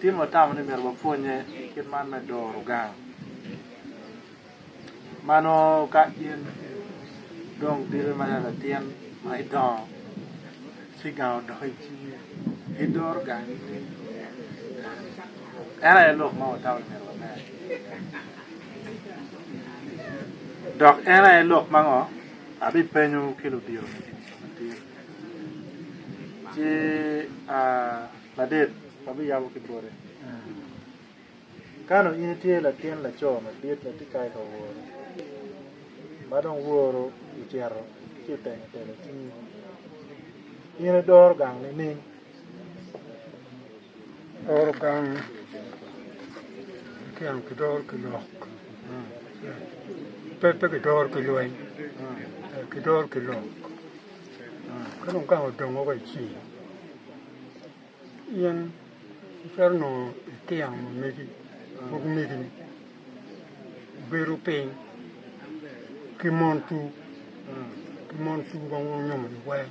Timo watamo ni myero wapwonnye i kit man me doro gang ma nongo ka in idong dire ma nen latin ma idongo ci gang odoko i cingi idoro gangi ni en aye lok ma watamo ni myero wanen dok en aye lok ma ngo abipenyo ki ludito-ni. ci ladit abiyabo ki bote. Kano in itye latin laco madit ma tye kato ka woro ma dong woro ocito ci itemo telo cingi in idoro gang nining Loro gang tyen kidoro ki lok pe pe kidoro ki lweny kidoro ki lok ka dong gang odongo wa ici in icito nongo itino ma megi pud megini bedo piny ki mon cu ki mon cu ma wunyomo-ni weng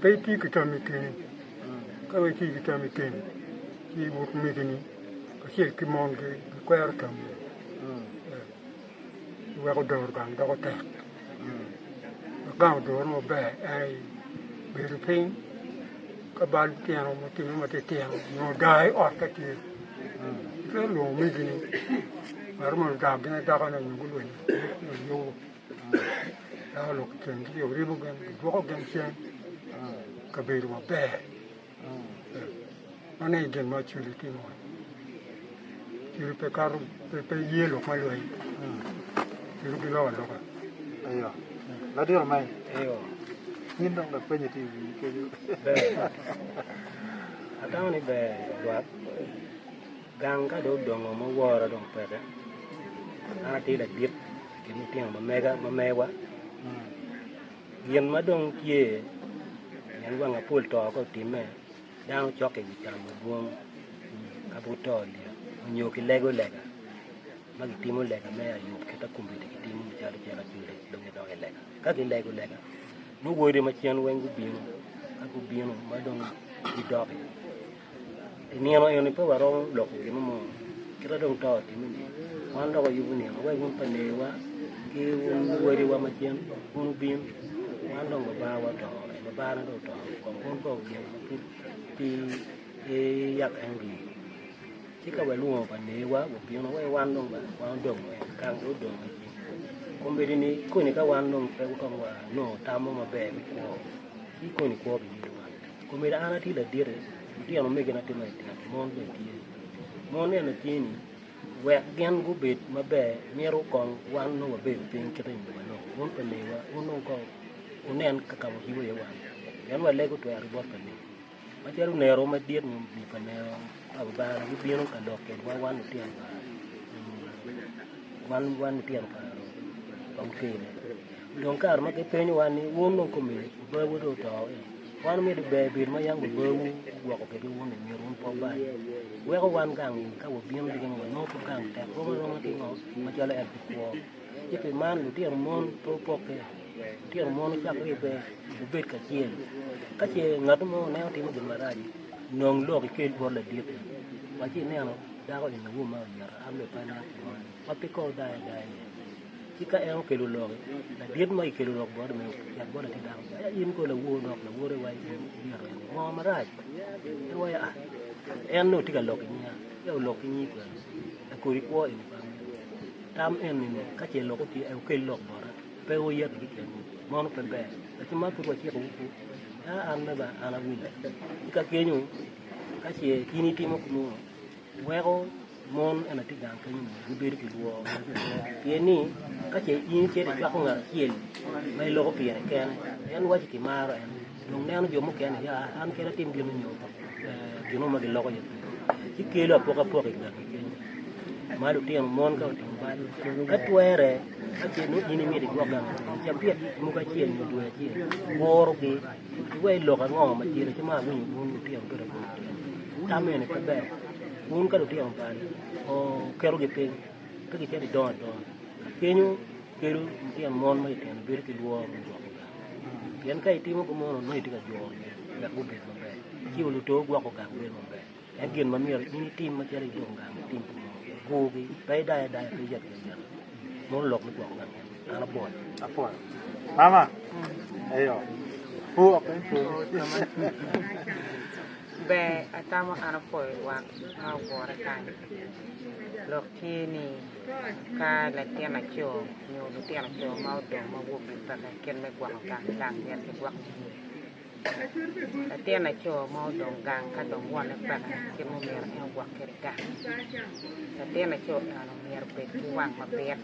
Pe itye ki tam i keni, ka dong itye ki tam i keni, ci but omegini kacel ki mongi gikwero tammi iweko doro gang doko tek. Wek gang odore maber en aye bedo piny ka bal tino matino matitino nyo daa i ot ka tye itwero lwongo omegini ngat ma ludaggi adaka nyo gulwenyo nyo yobo. Dako lok i kingi ci oribo gin, gidwoko gin cen i kabedo maber. Mano aye gin ma Acoli timo. Acoli pe kato pe ye lok ma lweny. Acoli giloko aloka. Ayo. Ladiro man. Ayo. In dong lapenye ti iwi kenyo. Atamo ni ber lwak. Gang ka dong odongo ma wora dong peke, an atye ladit i kin lutino ma mega ma mewa, gin ma dong tye pien wang apol to ka otimme dano cokke i wi tam madwong ka pe guto lyeto nyo gilego lega ma gitimo lega me ayo kit akumbedi gitimo calo cik ajoli dong gidok i lega, ka gilego lega nongo wode macen weng gubino ka gubino ma dong gidok-ki. I nino eni pe waromo loko gin mo, kita dong to otimme ni wan dok wayubo nino, wek wun pa leyiwa ki wun wadiwa macen wun wubin, wan dong Babawa oto, ee Babane dong oto, kong wun kong gin ma pud pi iyak en rii. Ci ka walwongo pa leyiwa wubino, wek wan dong ba wan odong en, kang dong odong en rii. Kombeddi ni koni ka wan dong pe wutamo wa nongo tam mo maber me kwo, ci koni kwo biyubbi wan. Komeda an atye ladite, lutino megina ki matino mon bene tye. Mon eni atye-ni, wek gin gubed maber myero kong wan nongo wabedo piny kit aye ma nongo wun pa lewa wun nongo ka wunen ka ka wacibo iye wan pien walego otwero i bot pa lewa. Macalo onero madit nyo omini pa lewa pa Lubanga gibino ka lok kedwa wan lutino pa wan wan lutino pa pa mukene. Dong kare ma gipenyowa ni wun nongo komedi babu dong oto-o. Wan omido ber bedo ma yam wabawu gwoko kwede wun i myero wun pe wubal. Weko wan gang i ka wabino diki ni wanongo pud gang tek rom aroma ki ngo macalo en pi kwo. Ci pi man lutino mon pe wupokke, lutino mon wucak ribbe wubed kacel. Ka ce ngat mo oneno timo gin marac, nong lok ikel bot laditi, wa ci ineno dako eni awo ma oyero an bene pe aneno kit moni, ma pe kong dayo adaya iye. ci ka en okelo lok, ladit ma ikelo lok bote omiyo yat bote tye dako. Ka in kong lawor dok lawore wa in ibyero en ngo marac? En waco ah, en nongo tye ka lok i nyiya, ya olok ki nyi kwena, en kodi kwo eni pa amego. Tam eni ni ka ce lok otye en okel lok bota, pe wuyet ki keni, mono pe ber. Ati man pud waciko wu pud, ya an me ba an awinyo. Ci ka kenyo, ka ce in itimo nongo, weko mon ema tye gang kenyo ni gibedo ki lworo ma tye iye pien ni ka ce in icito icwako ngat acel ma iloko pire kene en waci kimaro en dong neno jo mukene ni aa an kene atim gin ni nyo gin mo ma giloko iye pire ci kelo apokapoka igangi kenyo ma lutino mon ka otimo bal ka twere ka ce nongo in imito igwok gang acel ca pire mogo acel nyo dwe acel gurogi. Iwaco ni lok ango ma tyen ki ma awinyo bun lutino bedo kwede i kine ni? Tam eni pe ber. Bun ka lutino bali, oketogi piny, pe gicito gidongo adonga. Kenyo kelo litino mon ma itino bedo ki lworo me gwoko gang. Pien ka itimo ki mono nongo itye ka juro gi wek gubed maber. Ci wa luto gwoko gang bedo maber. Ento gin ma myero in itim macalo i dong gang, tim pi monogi, kurgi, pe idayo adaya, pe iyat ki ayata. Mono lok me gwoko ngat moni. An apwoyo. Apwoyo. Mama. Eyo. Pu ok en pu. Ber atamo an apwoyo lwak ma ogure kany. Lok tye ni ka latin aco nyo lutino aco ma odong ma wokgi peke kit me gwoko gang, gang myero kigwok cwinygi. Latin laco ma odong gang ka dong wonne peke kit ma omyero en ogwok kwede gang. Latin laco eno myero obed ki wang mabit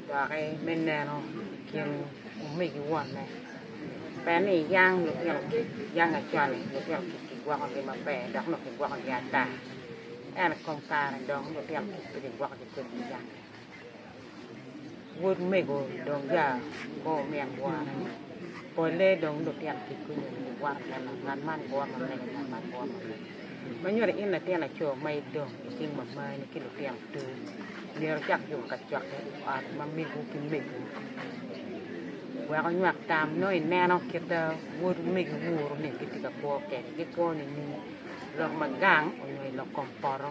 doki me neno i kin omegi wonne. Ber ni yang lutino kic, yang acwani lutino kic kigwokogi maber dok nongo kigwokogi ata. Ento i kom kare dong lutino kic pe kigwokogi kodi i gang-nge. Wod mego dong ya ko omyek wora ni pole dong lutino kik gunyo ni wot me ma ngat man wot ma mege ngat man wot ma mege ma nyodo in latin laco ma idong iting mamani ki lutino tor myero icak juku kacokke i ot ma mego ki mego wek onywak tam nongo ineno kit ma wod mego woro ni gitye ka kwo kede gikwo nining lok ma gang onyo ilok kom poto.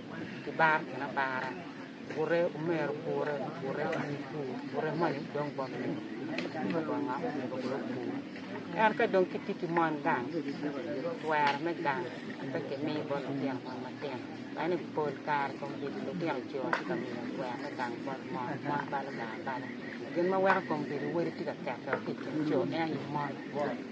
ki bar kin abara, gure omero gure, gure onyo pur, gure manyo dong bot mego timo bonga omego bene opur. En ka dong ki tye ki mon gang, twero me gang pe ki miyo bot lutino mon matino, ene pol kare kom bedo lutino co tye ka miyo twero me gang bot mon, mon balo gang abala. Gin ma weko kom bedo wode tye ka kete wa ki i kin co ene aye mon.